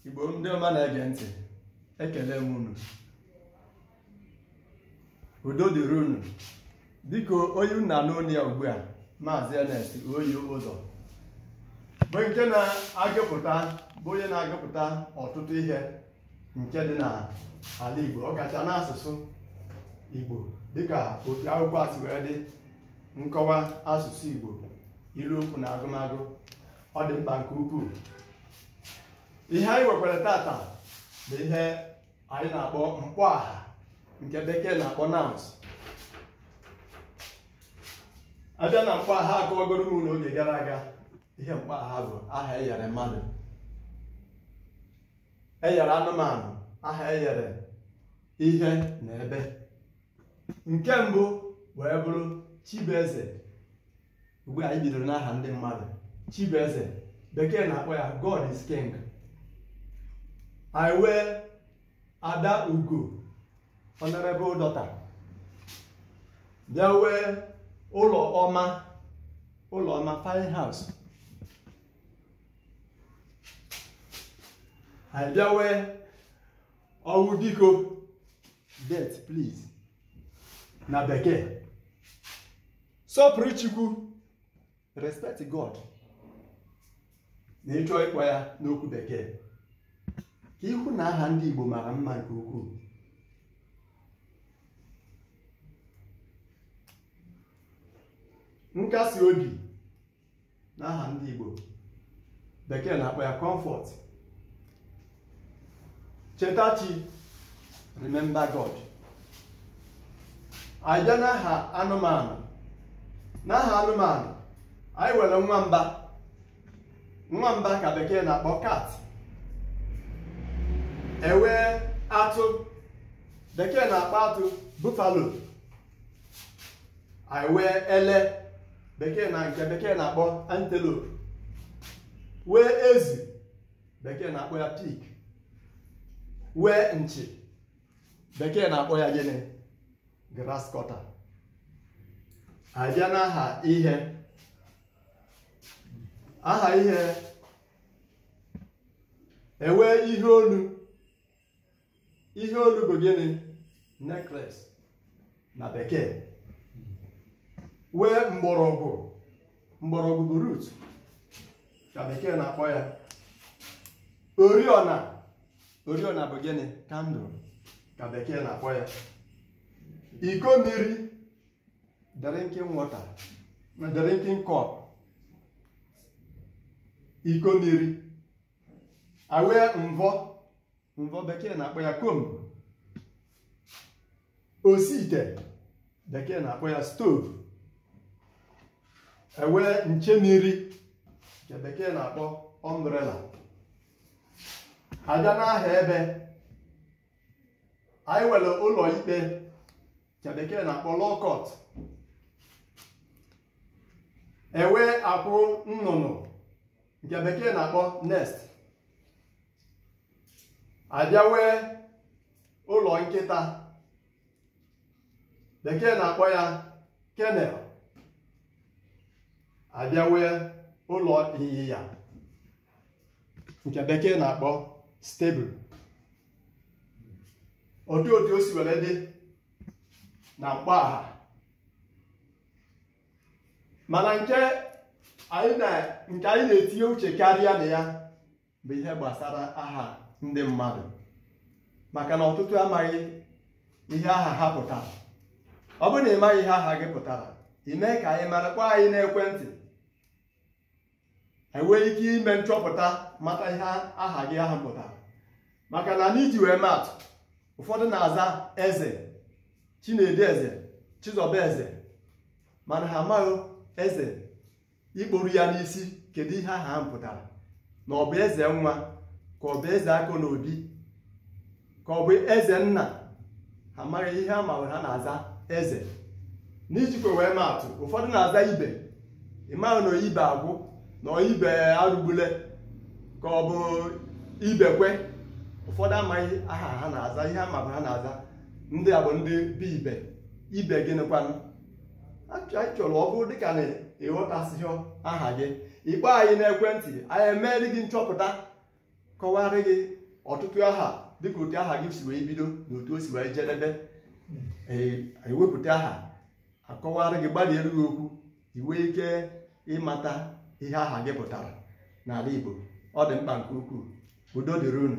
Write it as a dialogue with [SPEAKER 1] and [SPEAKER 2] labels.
[SPEAKER 1] igbo ndị ọma na-ege ntị ekele m unu udo dịrị unu dịka onye unu na-anụ olu ya ugbu a maazị Ernest oyi ụzọ bụ nke na-agụpụta bụ onye na-agụpụta ọtụtụ ihe nke dị n'ala igbo ọ kacha n'asụsụ igbo dịka otu akwụkwọ a si wee dị nkọwa asụsụ igbo ilu okwu na agụmagụ ọ dị mkpa nke ukwuu ihe anyị nwekwara tata bụ ihe anyị na-akpọ mkpọ aha nke bekee na-akpọ nouns abịa na mkpọ aha akọwagoro m unu oge gara aga ihe mkpọ aha bụ aha enyere mmadụ enyere anụmanụ aha enyere ihe na ebe nke mbụ wee bụrụ chibueze mgbe anyị bidoro n'aha ndị mmadụ chibueze bekee na-akpọ ya god is king anyị nwee ada ugo honorable daughter bịa nwee ụlọ ọma ụlọ ọma fine house anyị bịa nwee ọnwụbiko death please na bekee sọpụrụ chukwu respect god na ị chọọ ịkpọ ya n'okwu bekee ka ị hụ na aha ndị igbo mara mma nke ukwuu nkasi obi n'aha ndị Igbo bekee na-akpọ ya comfort cheta chi remember God anyị bịa n'aha anụmanụ n'aha anụmanụ anyị nwere nwamba nwamba ka bekee na-akpọ cat enwee atụ bekee na-akpọ atụ buffalo anyị nwee ele bekee na nke bekee na-akpọ antelope nwee ezi bekee na-akpọ ya pig nwee nchi bekee na-akpọ ya gịnị grass cutter abịa n'aha ihe aha ihe enwee ihe olu ihe olu bụ gịnị necklace na bekee wee mgbọrọgwụ mgbọrọgwụ bụ root ka bekee na-akpọ ya oriọna oriọna bụ gịnị candle ka bekee na-akpọ ya iko mmiri drinking water na drinking cup iko mmiri awee mvọ mvọ bekee na-akpọ ya comb osi ite bekee na-akpọ ya stove ewee nche mmiri nke bekee na-akpọ umbrella abịa n'aha ebe anyị nwere ụlọ ikpe nke bekee na-akpọ law court ewee akwụ nnụnụ nke bekee na-akpọ nest abịa wee ụlọ nkịta bekee na-akpọ ya kennel abịa wee ụlọ ịnyịnya nke bekee na-akpọ stable otu otu o si were dị na mkpọaha mana nke anyị na- nke anyị na-etinye uche karịa na ya bụ ihe gbasara aha ndị mmadụ maka na ọtụtụ amaghị ihe aha ha pụtara ọ bụrụ na ị maghị ihe aha gị pụtara ime ka anyị mara kpọọ anyị n'ekwentị enwee ike ime nchọpụta mata ihe aha gị ahụ pụtara maka na n'iji wee maatụ ụfọdụ na-aza eze chinedu eze chizọba eze mana ha amaghị eze ikpuru ya n'isi kedu ihe aha ahụ pụtara na ọ bụ eze nwa ka ọ bụ eze akọ n'obi ka ọ bụ eze nna ha amaghị ihe a ma bụ ha na-aza eze n'ijikwa wee ma atụ ụfọdụ na-aza ibe ị maghị na ọ ibe agwụ na ọ ibe arụgbule ka ọ bụ ibekwe ụfọdụ amaghị aha ha na-aza ihe a ma bụ ha na-aza ndị a bụ ndị be ibe ibe gịnịkwanụ anyị chọrọ ọ bụrụ dịka na ịghọtasịghị aha gị ị kpọọ anyị n'ekwentị anyị emeere gị nchọpụta kọwara gị ọtụtụ aha dịka otu aha gị si wee bido na otu o si wee jedebe ewepụta aha akọwara gị gbalịere gị okwu i nwee ike ịmata ihe aha gị pụtara n'ala Igbo ọ dị mkpa nke ukwuu udo dịrị unu